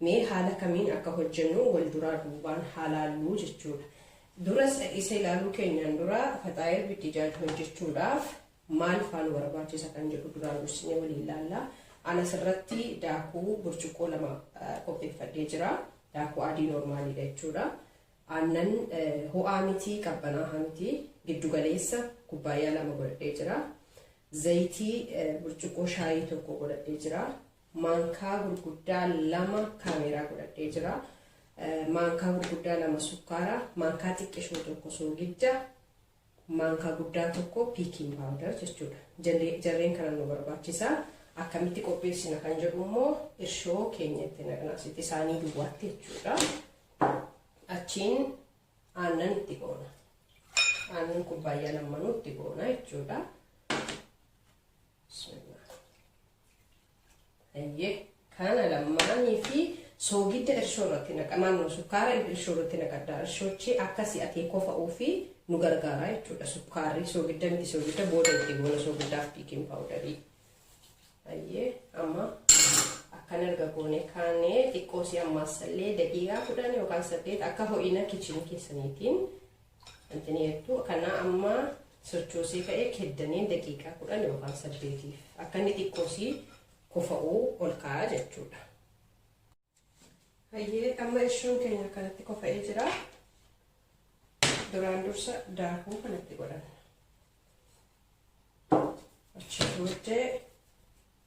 Mee haala kamiin akka hojjennu wal duraa duubaan haa laalluu jechuudha. Dura isa ilaaluu keenyaan dura faxaayir bittijaaj hojjechuudhaaf maal faa nu barbaachisa kan jedhu duraan dursinee waliin laalla. Ana asirratti daakuu burcuqqoo lama qopheeffadhee jira. Daakuu adii noormaaliidha jechuudha. Aannan ho'aa miti qabbanaahaa miti giddugaleessa kubbaayyaa lama godhadhee jira. Zayitii burcuqqoo shaayii tokko godhadhee jira. maankaa gurguddaa lama kaameeraa godhadhee jira. Maankaa gurguddaa lama sukkaara, maankaa xiqqishoo tokko soogidda, maankaa guddaa tokko piikiin paawudar jechuudha. Jarreen kana nu barbaachisa. Akkamitti qopheessina kan jedhu immoo irshoo keenya itti naqna asitti isaanii duwwaatti jechuudha. Achiin aannan itti goona. Aannan kubbaayyaa lammanuu itti goona jechuudha. Ayyee kana lammaanii fi soogidda irshoo irratti naqa naannoo sukkaara irshoo irratti naqadda irshochi akka si'atee kofa'uu fi nu gargaara jechuudha sukkaarri soogidda miti soogidda booda itti goona soogiddaaf biikiin paawudarii ayyee amma akkan erga goone kaanee xiqqoo si ammaassallee daqiiqaa kudhan yookaan saddeet akka ho'ina kichinii keessaniitiin Antini eegdu kanaa amma sochoosee ka'ee keddaniin daqiiqaa kudhan yookaan saddeetiif akka inni xiqqoosii kofa'uu ol ka'aa jechuudha. Hayyee amma ishiin keenya kanatti kofa'ee jira. Duraan dursa daakuu kanatti godhanna. Achi booddee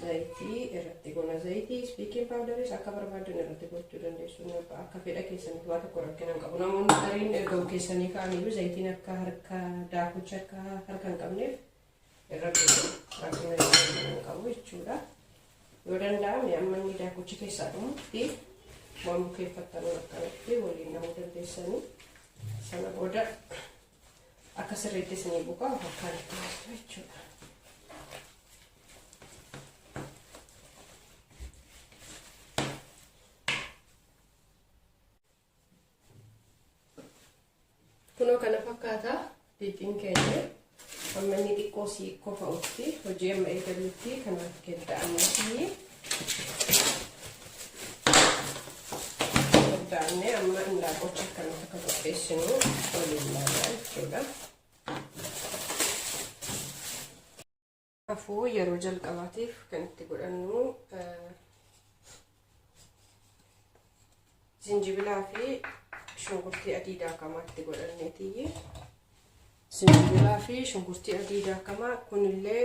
zayitii irratti goona zayitii ispiikiin paawudaris akka barbaaddan irratti gochuu dandeessu akka fedha keessaniif waa tokko rakkina hin qabu namoonni gariin erga keessanii ka'aniyyuu zayitiin akka harka daakucha akka harka hin qabneef irra godhu rakkina hin qabu jechuudha yoo danda'ame amma inni daakuchi keessaa dhumutti waan bukeeffattanuu akkanatti waliin namuu dandeessanii sana booda akka sirriitti isinii buqaa'u harkaan itti galchu jechuudha. Kunoo kana fakkaataa liixiin keenya amma inni xiqqoo siikoo fa'utti hojii amma eegalutti kanaaf kedda'amuu fi Daabnee amma indaaqqocha akkamitti akka qopheessinu waliin ilaalaa jechuudha. Kanaafuu yeroo jalqabaatiif kan itti godhannu zinjibilaa fi shunkurtii adii daakamaa itti godhanneetiyyi. Zinjibilaa fi shunkurtii adii daakamaa kunillee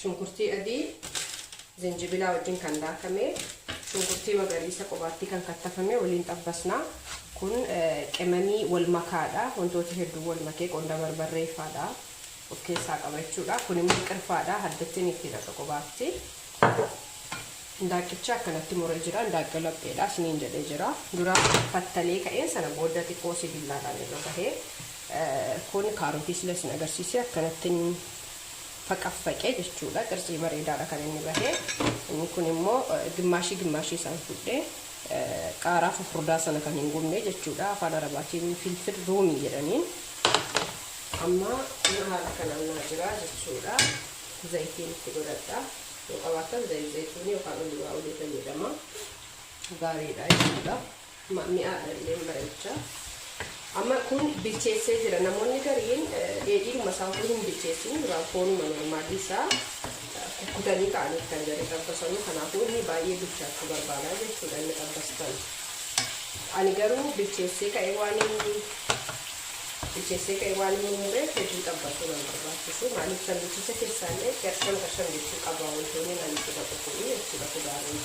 Shunkurtii adii zinjibilaa wajjin kan daakame, shunkurtii magariisa qobaattii kan kattafame waliin xabbasna. Kun qimamii wal makaadha. Wantoota hedduu wal makee qonda barbarree faadha of keessaa qaba jechuudha. Kun immoo qirfaadha. Haddattiin itti dhaqa qobaatti. Hindaaqqicha akkanatti muree jira. Hindaaqqa lapheedha isiniin jedhee jira. Dura fattalee ka'een sana booda xiqqoo sibillaadhaan irra bahee kun kaarotii sila isin agarsiisee akkanattin faqaffaqe jechuudha qircii bareedaadha kan inni bahe inni kun immoo gimmaashii gimmaashii isaan fudhe qaaraa fufurdaa sana kan hin gubne jechuudha afaan arabaatiin filfil ruumii jedhaniin amma kun haala kanaan naa jira jechuudha zayitiin itti godhadha yoo qabaattan zayit zayituunii yookaan oliivaa olii fayyadama gaariidha jechuudha. Ma, mi'aadha illeen bareecha. Amma kun bilcheessee jira. Namoonni gariin dheedhiidhuma isaa utuu hin bilcheessin duraan foonuma normaalii isaa kukkutanii ka'aniif kan jarri xabbasanu. Kanaafuu inni baay'ee bilchaachuu barbaada jechuudha inni xabbastan. Ani garuu bilcheessee ka'ee waan inni bilcheessee ka'ee waan inni mureef hedduu xabbasuu nan barbaachisu. Maaliif sanduuchicha keessaallee qershan qershan jechuu qaba wantoonni naan itti baqaquu jechuudha kudaaronni.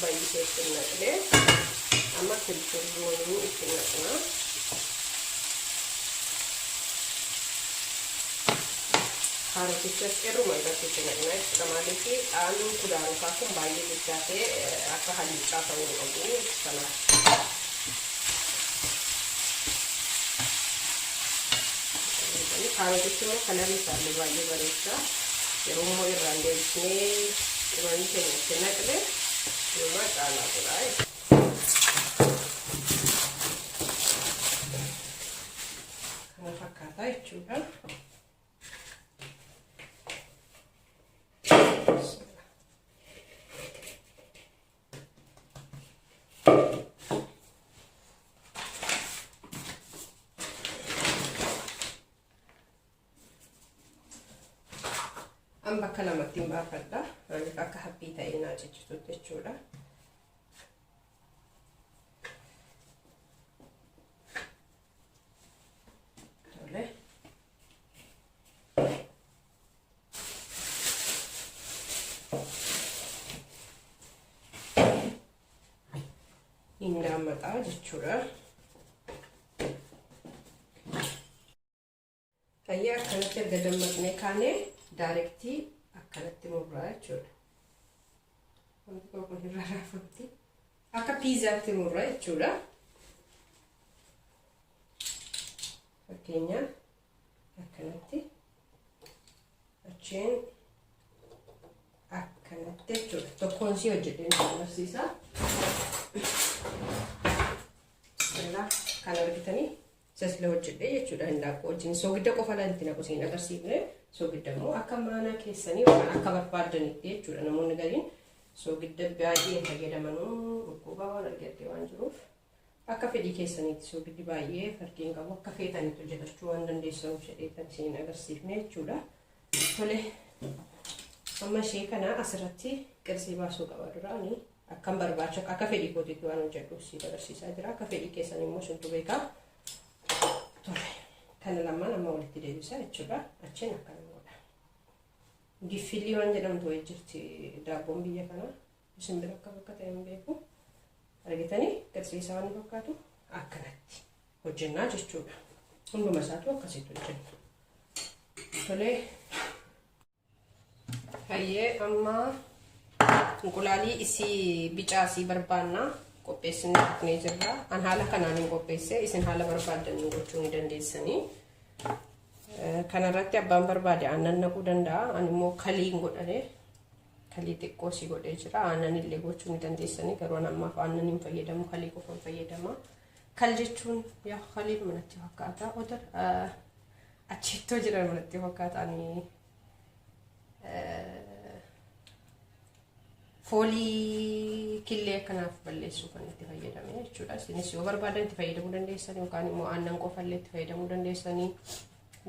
baay'isee itti hin naqne amma kilchurruunii itti naqna kaarotichas irruma irratti itti naqna jechuudha maaliif dhaanni kudaarotaa kun baay'ee guddaa ta'e akka haluucaa ta'uu hin qabu kanaaf Kaarotichi immoo kalarri isaallee baay'ee bareecha. Yeroo immoo irraan deebisnee qimamii keenya itti naqne inumaa caalaa godha. Kana fakkaata jechuudha. amma akka lamatti hin baafadha maaliif akka haphii ta'ee naa cichitutti jechuudha. hin daammataa jechuudha. Fayyaa akkanatti erga dammaqnee kaanee daarektii akkanatti murraa jechuudha. Wanti tokko hin rarraafamti. Akka piizaatti murraa jechuudha. Fakkeenyaaf. akkanatti achiin akkanatti jechuudha tokkoon sii hojjedhee nu agarsiisa irraa kan argitanii isa sila hojjedhee jechuudha hin laaqu wajjin soogidda qofa laal itti naqu siin agarsiifne soogidda immoo akka maanaa keessanii waan akka barbaadanitti jechuudha namoonni gariin soogidda baay'ee fayyadamanuu dhukkuba waan argatte waan jiruuf Akka fedhii keessaniitti soogiddi baay'ee farqii hin qabu. Akka feetanitti hojjetachuu waan dandeessanuuf jedheetan isin hin agarsiifne jechuudha. Tole amma ishee kana asirratti qirsii baasuu qaba duraani. Akkan barbaacha akka fedhii kootiitti waan hojjedhuuf siif agarsiisaa jira. Akka fedhii keessan immoo isintu beekaa. Tole kana lamaan amma walitti deebisaa jechuudha. Achiin akkana godha. Giffillii waan jedhamtu wayii jirti daabboon biyya kanaa. Isin bira akkam akka ta'e hin beeku. Argitanii garsiisaa waan fakkaatu akkanatti hojjennaa jechuudha. Hunduma isaatu akkasitti hojjenna. Tolee. Hayyee amma inqulaalii isii bicaasii barbaannaa qopheessinee dhufnee jirra. An haala kanaan hin qopheesse isin haala barbaadan gochuu ni dandeessanii. Kanarratti abbaan barbaade aannan naquu danda'a. An immoo kalii hin godhane Kalii xiqqoo si godhee jira. Aannan illee gochuu ni dandeessanii garuu an ammaaf aannan hin fayyadamu kalii qofan fayyadama. Kal jechuun yaa kaliin manatti fakkaata. Odar achittoo jiran manatti fakkaata ani foolii killee akkanaaf balleessuu kan itti fayyadame jechuudha. Isinis yoo barbaadan itti fayyadamuu dandeessanii yookaan immoo aannan qofallee itti fayyadamuu dandeessanii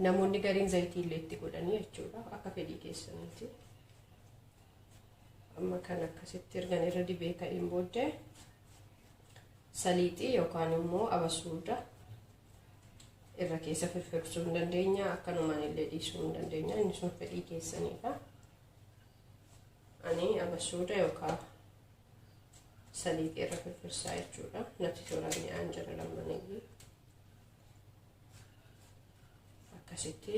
namoonni gariin zayitii illee itti godhanii jechuudha akka fedhii keessaniiti. amma kan akkasitti ergan irra dibee ka'een booddee saliixii yookaan immoo abasuuda irra keessa firfirsuu hin dandeenya akkanumaan illee dhiisuu hin dandeenya inni sun fedhii keessaniidha ani abasuuda yookaan saliixii irra firfirsaa jechuudha natti tola mi'aan jira lammaniyyuu akkasitti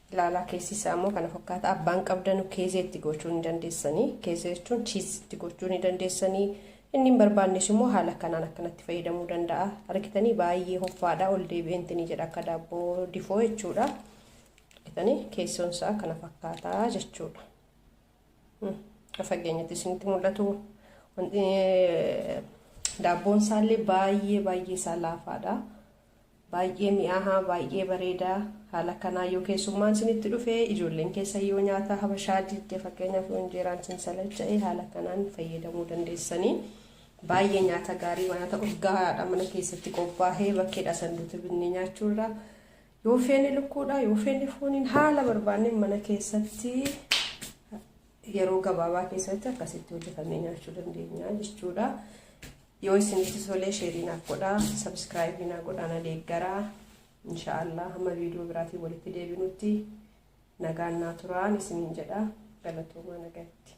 Ilaalaa keessi isaa immoo kana fakkaata. Abbaan qabdanu keezee itti gochuu ni dandeessanii. Keezee jechuun chiis itti gochuu ni dandeessanii. Inni hin barbaannes immoo haala kanaan akkanatti fayyadamuu danda'a. Argitanii baay'ee hoffaadha. Ol deebi'ee intini jedha akka daabboo difoo jechuudha. Argitanii keessoon isaa kana fakkaata jechuudha. Fageenyatti isinitti mul'atu. Daabboon isaallee baay'ee baay'ee isaa laafaadha. Baay'ee mi'aahaa baay'ee bareeda haala kanaa yoo keessummaan sinitti dhufe ijoolleen keessan yoo nyaata habashaa didde fakkeenyaaf yoo injeeraan sin salacha'e haala kanaan fayyadamuu dandeessanii baay'ee nyaata gaarii nyaata urgaa'aadha mana keessatti qophaa'ee bakkeedha sanduuta binnee nyaachuurra yoo feene lukkuudha yoo feene fooniin haala barbaanneen mana keessatti yeroo gabaabaa keessatti akkasitti hojjetamee nyaachuu dandeenya jechuudha. Yoo isinitti tolee sheerii naaf godhaa, subscribe naa godhaa na deeggaraa. Inshaallah hamma viidiyoo biraatiin walitti deebinutti nagaan naa turaan isiniin jedha galatoomaa nagatti.